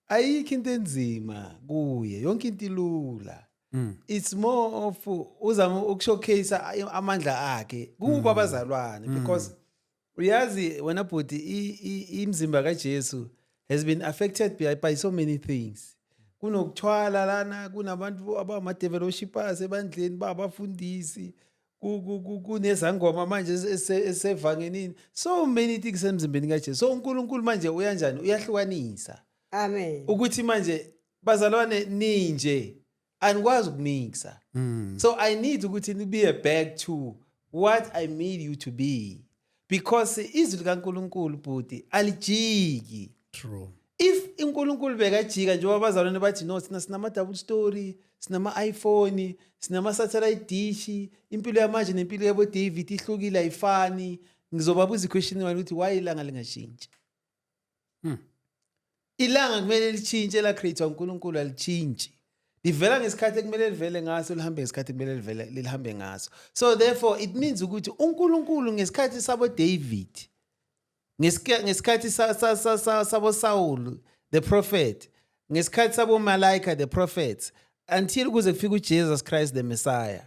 ayikho into enzima kuye yonke into ilula mm. it's more of uzama ukushowcase amandla akhe kubo mm. abazalwane mm. because uyazi wena bhuti imzimba kaJesu has been affected by, by so many things kunokuthwala lana kunabantu abama-developshippers ebandleni babafundisi kunezangoma manje esevangenini so many things emzimbeni kajesu so unkulunkulu manje uyanjani uyahlukanisa amen ukuthi manje bazalwane ninje anikwazi ukumixa mm. so i need ukuthi nibiye back to what i made you to be because izwi likankulunkulu bhuti alijiki true if unkulunkulu bekajika njengoba abazalwane bathi no sina sinama-double story sinama-iphone sinama-satellite dish impilo yamanje nempilo yabo-david ihlukile ayifani ngizobabuza iquestion mani ukuthi why ilanga lingashintshi Hmm. Ilanga kumele litshintshe la create uNkulunkulu alitshintshi. Livela ngesikhathi ekumele livele ngaso lihambe ngesikhathi ekumele livele lihambe ngaso. So therefore it means ukuthi uNkulunkulu ngesikhathi sabo David ngesikhathi sabo Saul the prophet ngesikhathi sabo Malaika the prophets until kuze kufike uJesus Christ the Messiah.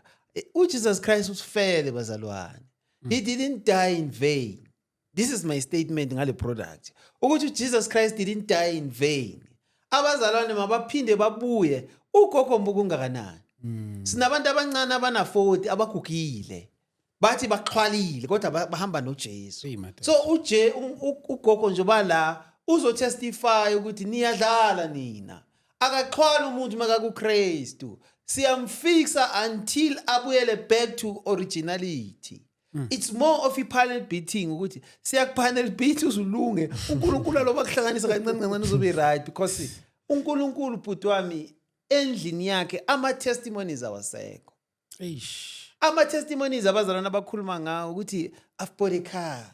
UJesus Christ usifele bazalwane. He didn't die in vain. this is my statement ngale product ukuthi uJesus Christ didn't die in vain abazalwane mabaphinde babuye ugogo mbuku ungakanani mm. sinabantu abancane abana 40 abagugile bathi baxhwalile kodwa bahamba noJesu so uje ugogo nje bala uzotestify ukuthi niyadlala nina akaxhwala umuntu makakuKristu siyamfixa until abuyele back to originality Mm. it's more of i-panel beating ukuthi siyakupanel beat uzulunge unkulunkulu aloba kuhlanganisa kancane kancane uzobe right because unkulunkulu bhuti wami endlini yakhe ama-testimonies awasekho ama-testimonies abazalwana abakhuluma ngawo ukuthi i've bought a car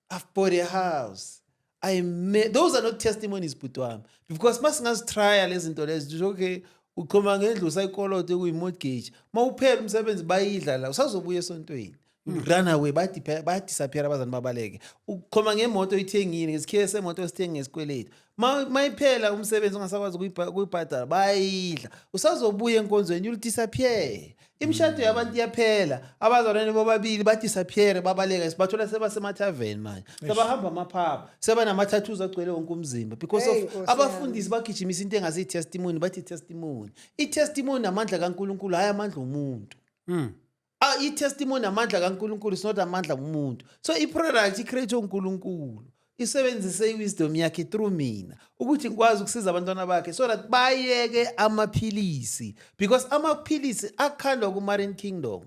I've bought a house. I made, those are not testimonies bhuti wami because uma singazitrya lezi zinto lezi nje okay uxhoma ngendlu usayikoloto ekuyi-mortgage uma uphela umsebenzi bayidla la usazobuya esontweni hmm. run away badisappear abazani babaleke uxhoma ngemoto oyithengile ngesikhiye semoto osithenge ngesikweletu mayiphela umsebenzi ungasakwazi ukuyibhadala bayidla usazobuya enkonzweni you'll disappear imishado yabantu iyaphela abazalwane bobabili badisappeare babaleka sibathola sebasemathaveni manje sebahamba amaphapha sebanama-tattoos agcwele wonke umzimba because of abafundisi bagijimisa into engase i-testimony bathi i-testimony i-testimony amandla kankulunkulu hhayi amandla omuntu hmm. Ah, i-testimony amandla kaNkulunkulu is not amandla kumuntu. So i-product i-create uNkulunkulu. Isebenzise i-wisdom yakhe through mina ukuthi ngikwazi ukusiza abantwana bakhe so that bayeke amaphilisi because amaphilisi akhandwa ku-Marine Kingdom.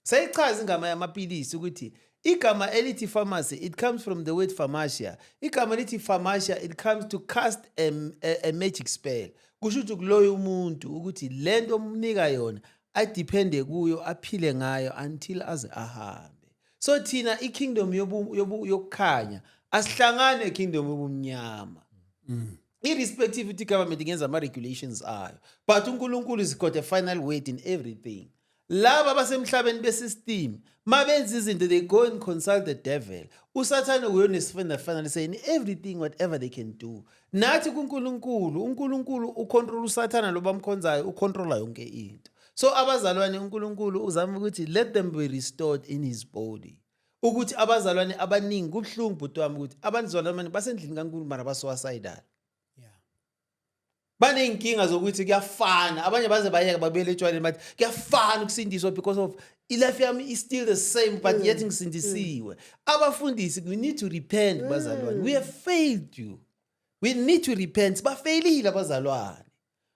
Seyichaza ingama yamaphilisi ukuthi igama elithi pharmacy it comes from the word pharmacia. Igama elithi pharmacia it comes to cast a, a, a magic spell. Kusho ukuthi kuloya umuntu ukuthi lento omnika yona adiphende kuyo aphile ngayo until aze ahambe so thina ikingdom yokukhanya asihlangane kingdom yobumnyama mm. irrespective ukuthi government ingenza ama-regulations ayo but unkulunkulu is got a final word in everything laba abasemhlabeni besystem ma benza izinto they go and consult the devil usathane uyonesifendafanane sayini everything whatever they can do nathi kuNkulunkulu uNkulunkulu ucontrol usathana lo bamkhonzayo ucontrola yonke into so abazalwane uNkulunkulu uzama ukuthi let them be restored in his body ukuthi abazalwane abaningi kubuhlungu bhuti wami ukuthi abazalwane basendlini kaNkulunkulu mara basuicidal baney'nkinga zokuthi kuyafana abanye baze bayeka babuyele etshwaleni bathi kuyafana ukusindiswa because of ilife yami is still the same but mm. yet ngisindisiwe mm. abafundisi we need to repent mm. bazalwane we have failed you we need to repent sibafeyilile abazalwane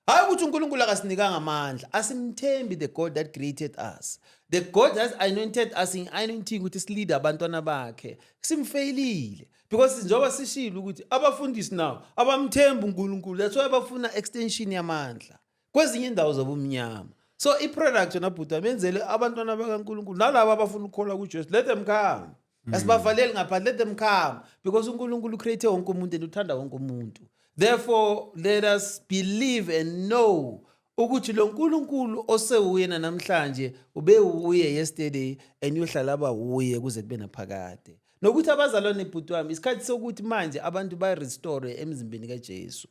hayi ukuthi unkulunkulu akasinikanga amandla asimthembi the god that created us the god has anointed us in anointing ukuthi silide abantwana bakhe simfeyilile because njengoba sishilo ukuthi abafundisi nawo abamthembi unkulunkulu that's why bafuna extension yamandla kwezinye indawo zobumnyama so iproduct yona bhuti amenzele abantwana bakankulunkulu nalabo abafuna ukukholwa kujesu let them come mm. asibavaleli ngaphandle let them come because unkulunkulu ucreate wonke umuntu and uthanda wonke umuntu therefore let us believe and know ukuthi lo nkulunkulu osewuyena namhlanje ubewuye yesterday and uyohlala aba wuye kuze kube naphakade nokuthi abazalwane bhuti wami isikhathi sokuthi manje abantu ba-restore emzimbeni kajesu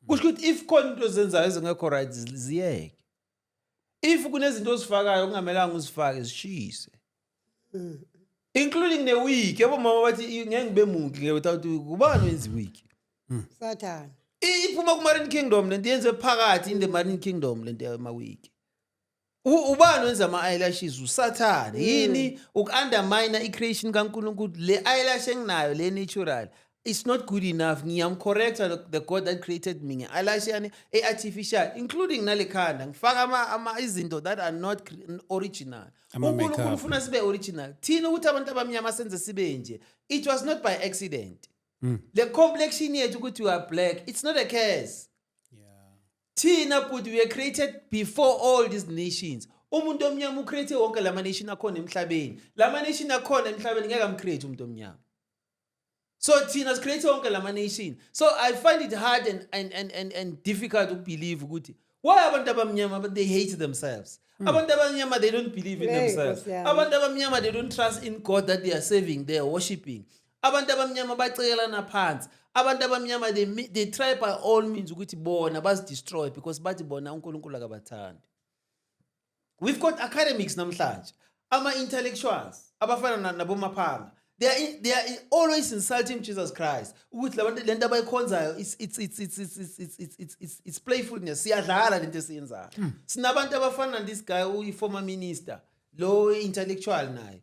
kusho ukuthi if khona into ezenzayo ezingekho right ziyeke if kunezinto ozifakayo okungamelanga uzifake zishise including ne-week yabo mama bathi "I- ngeke ngibe muki ngeke without week ubani wenza iweek sathane I- iphuma kumarine kingdom lento yenze phakathi in the marine kingdom lento yamawiki U- ubani wenza ama-eyelashes usathane yini uku-undermina i-creation kankulunkulu le eyelash enginayo le natural it's not good enough ngiyamcorrecta the- the god that created me nge-eyelash yani e-artificial including nale khanda ngifaka ama- ama- izinto that are not cre- original Ama unkulunkulu makeup. ufuna sibe original thina ukuthi abantu abamnyama senze sibe nje it was not by accident le complexion yethu ukuthi we are black it's not a curse thina bhuti we created before all these nations umuntu omnyama ucreate wonke lama nation akhona emhlabeni lama nation akhona emhlabeni ngeke amcreate umuntu omnyama so thina sicreate wonke lama nation so i find it hard and, and, and, and, and difficult ukubelieve ukuthi why abantu abamnyama but they hate themselves mm. abantu abamnyama they don't believe in themselves abantu abamnyama they don't trust in god that they are serving they are worshiping abantu abamnyama bacekelana phansi abantu abamnyama they, they try by all means ukuthi bona bazidestroy because bathi bona unkulunkulu akabathandi we've got academics namhlanje ama-intellectuals abafana nabomaphanga they are, they are always insulting jesus christ ukuthi labantu le nto abayikhonzayo it's playfulness siyadlala le nto esiyenzayo hmm. sinabantu abafana this guy uyi-former minister lo intellectual naye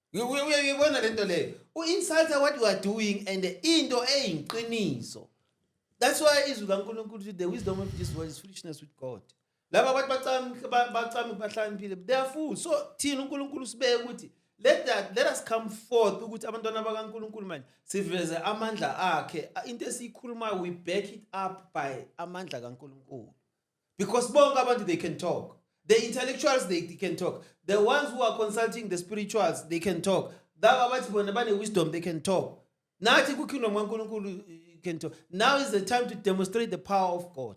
uyibona lento leyo u-insulta what you are doing and into eyiqiniso that's why izwi kankulunkulu the wisdom of this world is foolishness with god laba abantu bacamke bahlaniphile they are fool so thina unkulunkulu sibeke ukuthi let that let us come forth ukuthi abantwana bakaNkuluNkulu manje siveze amandla akhe into esiyikhulumayo we back it up by amandla kaNkuluNkulu because bonke abantu they can talk the intellectuals they, they can talk the ones who are consulting the spirituals they can talk laba abathi bona bane-wisdom they can talk nathi kukingdom kankulunkulu you can talk now is the time to demonstrate the power of god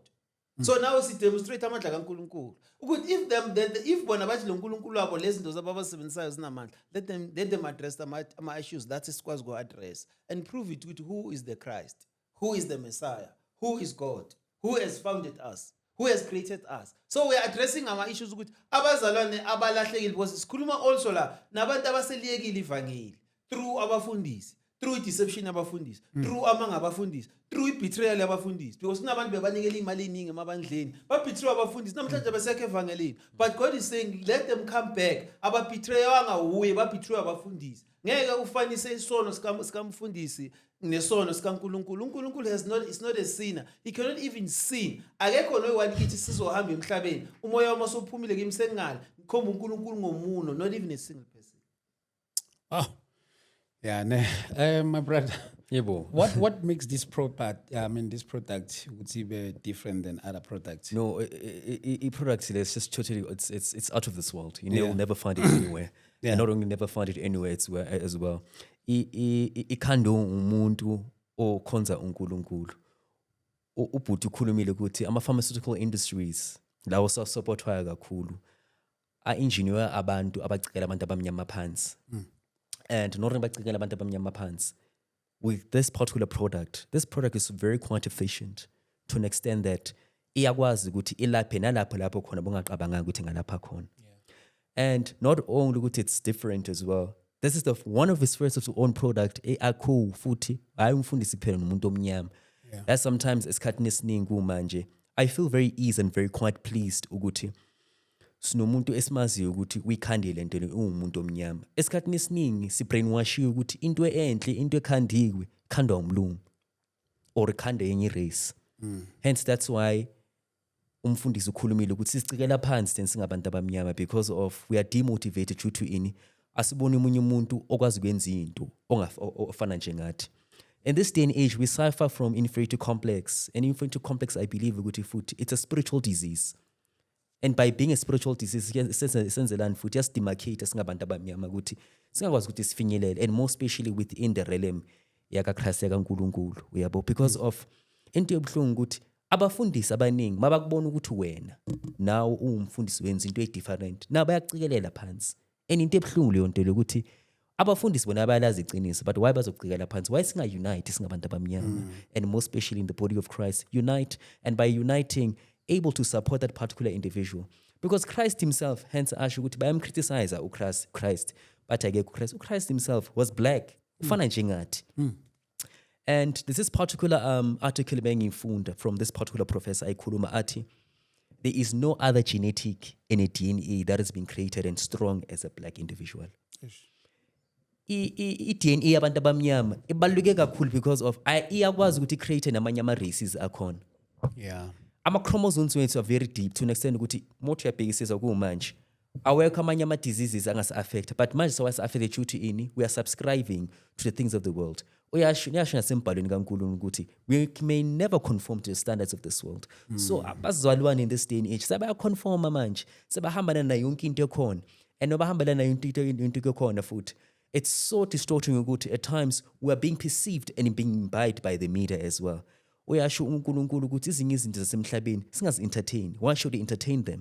hmm. so now sidemonstrate amandla kankulunkulu ukuthi if them then if bona bathi lo nkulunkulu wabo lezi zinto zabo abazisebenzisayo zinamandla let them let them address ama-issues that esikwazi ku-address and prove it ukuthi who is the christ who is the messiah who is god who has founded us who has created us so we're addressing our issues ukuthi abazalwane abalahlekile because sikhuluma also la nabantu abaseliyekile ivangeli through abafundisi through deception abafundisi mm. through amanga abafundisi through ibetrayal abafundisi because kunabantu bebanikela imali eningi emabandleni babetray abafundisi namhlanje hmm. abasekho evangelini but god is saying let them come back ababetrayanga wuye babetray abafundisi ngeke ufanise isono sikamfundisi nesono sikaNkuluNkulu uNkuluNkulu has not is not a sinner he cannot even sin akekho noyi one kithi sizohamba emhlabeni umoya wami osuphumile kimi sengingale ngikhomba uNkuluNkulu ngomuno not even a single person ah yeah ne eh my brother yebo what what makes this product i mean this product ukuthi be different than other products no i product lesi totally it's it's it's out of this world you yeah. will never find it anywhere yeah. not only never found it anywhere it's where, as well ikhandwe umuntu okhonza uNkulunkulu ubhuti ukhulumile ukuthi ama pharmaceutical industries lawo sasupportwayo kakhulu a engineer abantu abacikela abantu abamnyama phansi mm. and not bacikela abantu abamnyama phansi with this particular product this product is very quite efficient to an extent that iyakwazi ukuthi ilaphe nalapho lapho khona bongaqabanganga ukuthi ngalapha khona and not only ukuthi it's different as well this is the one of his first of his own product eacool futhi hayi umfundisi kuphela nomuntu omnyama yeah. that's sometimes esikhathini esiningi kumanje i feel very easy and very quite pleased ukuthi sinomuntu esimaziyo ukuthi kuyikhandi le nto le uwumuntu omnyama esikhathini esiningi sibrainwashiwe ukuthi into enhle into ekhandiwe khandwa umlungu or ikhanda yenye irace mm. hence that's why umfundisi ukhulumile ukuthi sisicikela phansi then singabantu abamnyama because of we are demotivated due to ini asiboni umunye umuntu okwazi ukwenza into ofana njengathi in this day and age we suffer from inferiority complex and inferiority complex i believe ukuthi futhi it's a spiritual disease and by being a spiritual disease senzelani futhi yasidemarcate singabantu abamnyama ukuthi singakwazi ukuthi sifinyelele and more especially within the realm yakakhrist yakankulunkulu uyabo because of into yobuhlungu ukuthi abafundisi abaningi mabakubona ukuthi wena nawe uwumfundisi wenza into edifferent na bayacikelela phansi and into ebuhlungu leyo nto lokuthi abafundisi bona bayalazi iqiniso but why bazocikela phansi why singa-unite singabantu abamnyama mm. and more especially in the body of christ unite and by uniting able to support that particular individual because christ himself hence asho ukuthi bayamcriticize uchrist christ bathi akekho uchrist uchrist himself was black ufana mm. njengathi mm. and this is particular um, article bengiyifunda from this particular professor ayikhuluma athi there is no other genetic in a DNA that has been created and strong as a black individual. i-dna yabantu abamnyama ibaluleke kakhulu because of iyakwazi ukuthi i-create namanye ama-races akhona yeah ama-chromosomes wethu are very deep to an extent ukuthi mothi uyabhekisisa kuwumanje awekho amanye ama diseases angasi affect but manje sewasi affect ukuthi ini we are subscribing to the things of the world uyasho uyasho nasembhalweni kaNkulunkulu ukuthi we may never conform to the standards of this world mm. so hmm. abazalwane in this day and age sebaya conform manje sebahambana nayo yonke into ekhona and obahambela nayo into into ekhona futhi it's so distorting ukuthi at times we are being perceived and being imbibed by the media as well uyasho uNkulunkulu ukuthi izinye izinto zasemhlabeni singazi entertain why should we entertain them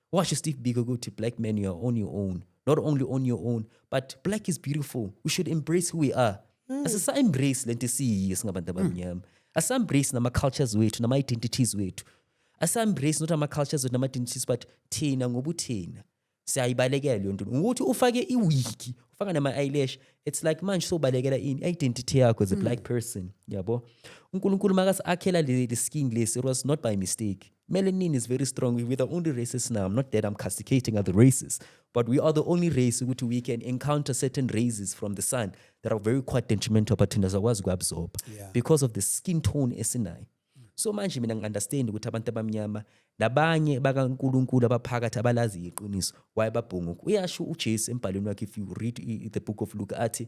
washo steve biko ukuthi black man you are on your own not only on your own but black is beautiful we should embrace who we are mm. asisa-embrace le nto esiyiyo singabantu abamnyama mm. asa-embrace nama-cultures wethu nama-identities wethu asa-embrace not ama-cultures wethu nama-identities but thina ngobuthina siyayibalekela leyo nto ngokuthi ufake iwiki ufaka nama-eyelash it's like manje sobalekela ini i-identity yakho as a mm. black person yabo unkulunkulu makasi akhela le skin lesi it was not by mistake Melanin is very strong. We're the only races now. I'm not that I'm castigating other races, but we are the only race which we can encounter certain rays from the sun that are very quite detrimental but thina zakwazi ukuabsorb yeah. because of the skin tone esinayo. So manje mina ngi-understand ukuthi abantu abamnyama nabanye bakaNkulunkulu abaphakathi abalazi iqiniso why babhunguka. Uyasho uJesu embhalweni wakhe if you read the book of Luke athi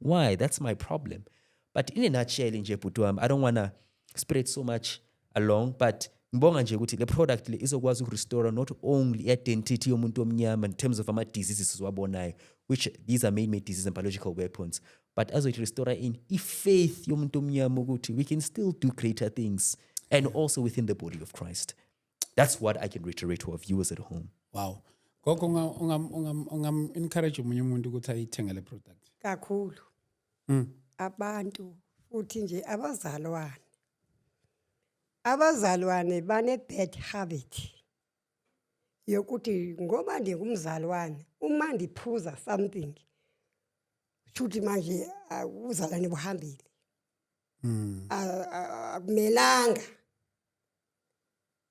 why that's my problem but in a nutshell nje bhuti wami i don't wanna spread so much along but ngibonga nje ukuthi le product le izokwazi ukurestore not only identity yomuntu omnyama in terms of ama-diseases siwabonayo which these are man-made diseases and biological weapons but azoyithi restore in i-faith yomuntu omnyama ukuthi we can still do greater things and also within the body of christ that's what i can reiterate to our viewers at home wow gogo ungam-encourage omunye umuntu ukuthi ayithenge le product kakhulu mm. abantu futhi nje abazalwane abazalwane bane-bad habit yokuthi ngoba ndingumzalwane uma ndiphuza something shuthi manje ubuzalwane buhambile hmm. akumelanga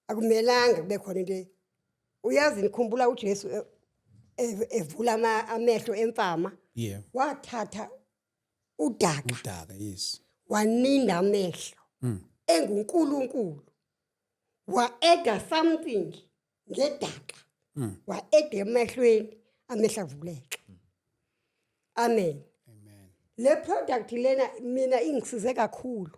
akumelanga kube khona into e- uyazi nikhumbula uJesu e- e- evula ama- amehlo emfama yeah wathatha udaka udaka yes waninda amehlo Mm. enguNkulunkulu waeda something ngedaka Mm. waeda emehlweni amehla avuleke amen amen le product lena mina ingisize kakhulu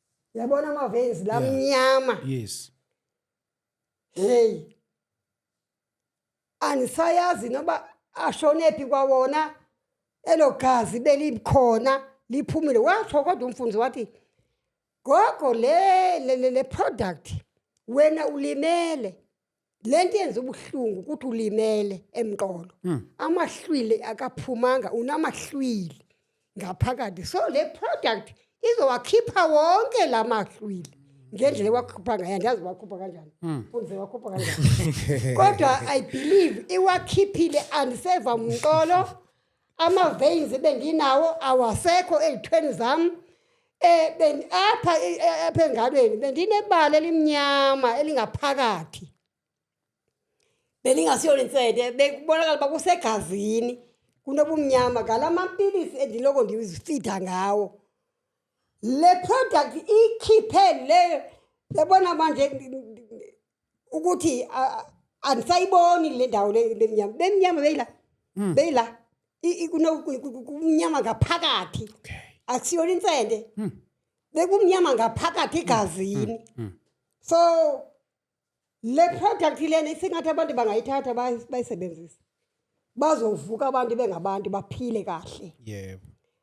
yabona ama-veins la Yeah. mnyama yes heyi anisayazi noba ashonephi kwawona elo gazi belikhona liphumile washo kodwa umfundisi wathi gogo le le le, le product wena ulimele lento yenza ubuhlungu ukuthi ulimele emqolo hmm. amahlwili akaphumanga unamahlwili ngaphakathi so le product izowakhipha wonke la mahlwili ngendlela ewakhupha ngayo andazi wakhupha kanjani hmm. unze wakhupha kanjani kodwa i believe iwakhiphile andiseva mqolo ama-veins ebenginawo awasekho ey'thweni zami um apha e, e, apha engalweni bendinebala elimnyama elingaphakathi belingasiyo linsede bekubonakala uba kusegazini kunobumnyama ngala mampilisi endiloko ndizifida ngawo le product ikhiphe leyo yabona manje ukuthi andisayiboni le ndawo lemnyama bemnyama beyila hmm. beyila kumnyama ngaphakathi akusiyona insende hmm. bekumnyama ngaphakathi egazini hmm. so le product lena isingathi abantu bangayithatha bayisebenzise bazovuka abantu bengabantu baphile kahle yebo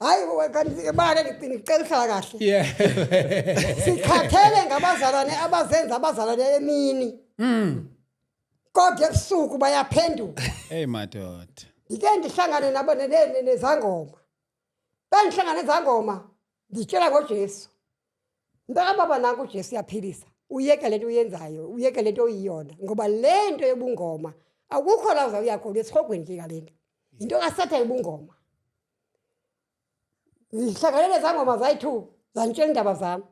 hayi bana ngicela uhlala kahle yeah sikhathele ngabazalwane abazenza abazalwane emini mm kodwa ebusuku bayaphenduka hey madoda ngike ndihlangane nabo nezangoma bengihlangane nezangoma nditshela ngoJesu Mntaka baba nanku uJesu uyaphilisa. Uyeke lento uyenzayo, uyeke lento oyiyona ngoba lento yobungoma akukho la uza uya khona esihogweni nje kalento. Into kaSatha yobungoma. Ngihlanganele zangoma zayi-2 zangitshela indaba zami.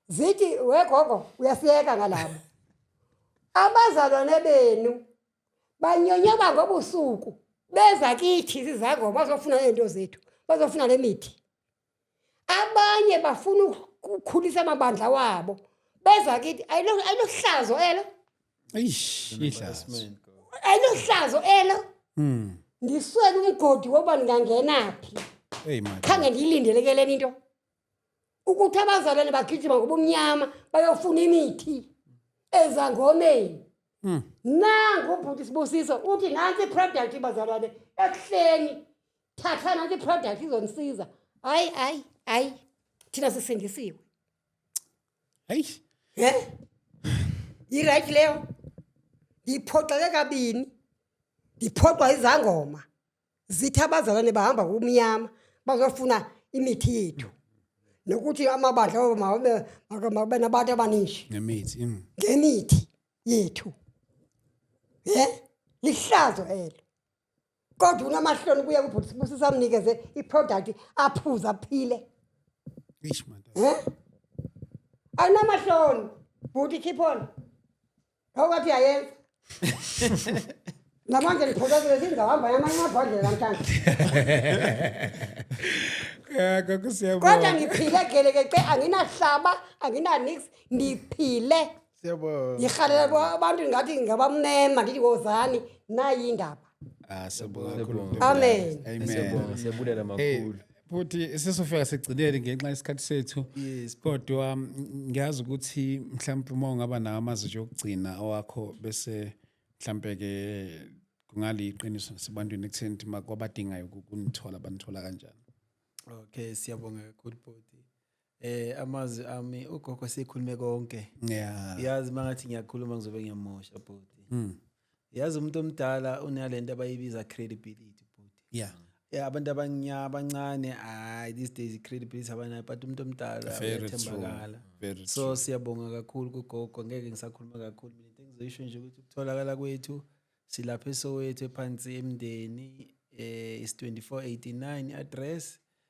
Zithi wegogo uyasiyeka ngalabo. Abazalwane benu banyonyoba ngobusuku beza kithi izizangoma bazofuna into zethu, bazofuna lemithi. abanye bafuna ukukhulisa amabandla wabo beza kithi ayilohlazo elo ayilohlazo elo hmm. ndiswele umgodi wokuba ndingangenaphi khange ndiyilindelekeleni into ukuthi abazalwane bagijima ngobumnyama bayofuna imithi ezangomeni hmm. nangu ubhuti sibusiso uthi nantsi iproduct bazalwane ekuhleni thatha nanti iproduct izonisiza hayi hayi hayi thina sisindisiwe hayi he yirayithi leyo ngiphoxeke kabini ngiphoxwa izangoma zithi abazalwane bahamba kumnyama bazofuna imithi yethu nokuthi amabandla obo mabe mabe nabantu abaningi ngemithi mm. ngemithi yethu he lihlazo elo kodwa unamahloni kuye kubhuti sibusi samnikeze iproduct aphuza aphile eish man eh anamahloni bhuti keep on awukathi yayenza namanje ngiphokozile singahamba yamanye amabhodlela namhlanje kodwa ngiphile gelekece anginahlaba anginanix ngiphile Siyabonga. ngirhalela bo- abantu ngathi ngabamnema ndithi wozani nayi indaba Ah, siyabonga kakhulu. Amen. Amen. Siyabonga, siyabulela Hey, makhulu futhi sesofika sigcinele ngenxa yesikhathi sethu Yes. kodwa mm, ngiyazi ukuthi mhlawumpe uma ungaba nawo amazi nje okugcina awakho bese mhlawumpe-ke kungaliyiqiniso nasebantwini ekutheni ukuthi ma- kwabadingayo ukunithola banithola kanjani Okay, siyabonga kakhulu bhuti. Eh amazwi ami ugogo sikhulume konke. Yeah. Yazi mangathi ngiyakhuluma ngizobe ngiyamosha bhuti. Mm. Yazi umuntu omdala unalento abayibiza credibility bhuti. Yeah. Yeah, abantu abanya abancane hayi these days credibility abanayo but umuntu omdala uyathembakala. So siyabonga kakhulu kugogo ngeke ngisakhuluma kakhulu mina into engizoyisho nje ukuthi ukutholakala kwethu silapha esowethu ephansi emndeni eh is 2489 address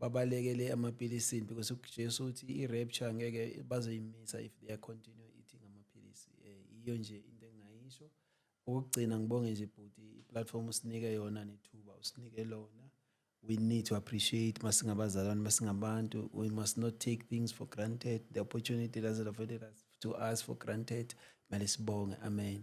babalekele amapilisini because uJesu uthi i-rapture ngeke bazoyimisa if they are continue eating amaphilisi um iyo nje into engingayisho okokugcina ngibonge nje bhuti i-platform usinike yona nethuba usinike lona we need to appreciate masingabazalwane masingabantu we must not take things for granted the opportunity doesn't avail us to us for granted mele sibonge amen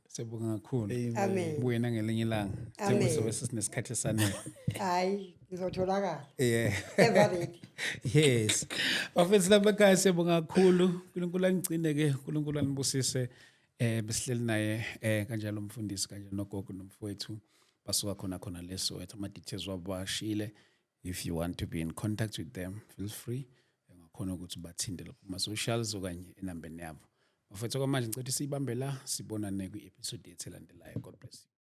Siyabonga kakhulu. Amen. Buyena ngelinye ilanga. Amen. Njengoba sobe sesinesikhathi esanele. Hayi, ngizotholakala. Yeah. Ever ready. Yes. Bafethu lapha ekhaya siyabonga kakhulu. uNkulunkulu anigcine ke, uNkulunkulu anibusise. Eh besihleli naye eh kanjalo umfundisi kanjalo nogogo nomfowethu basuka khona khona leso wethu ama details wabo bashile. if you want to be in contact with them feel free ungakhona ukuthi bathinte lapho kuma-socials okanye enambeni yabo bafethu kwamanje ngicela ukuthi siyibambe la sibonane kwi-episode yethu elandelayo god bless you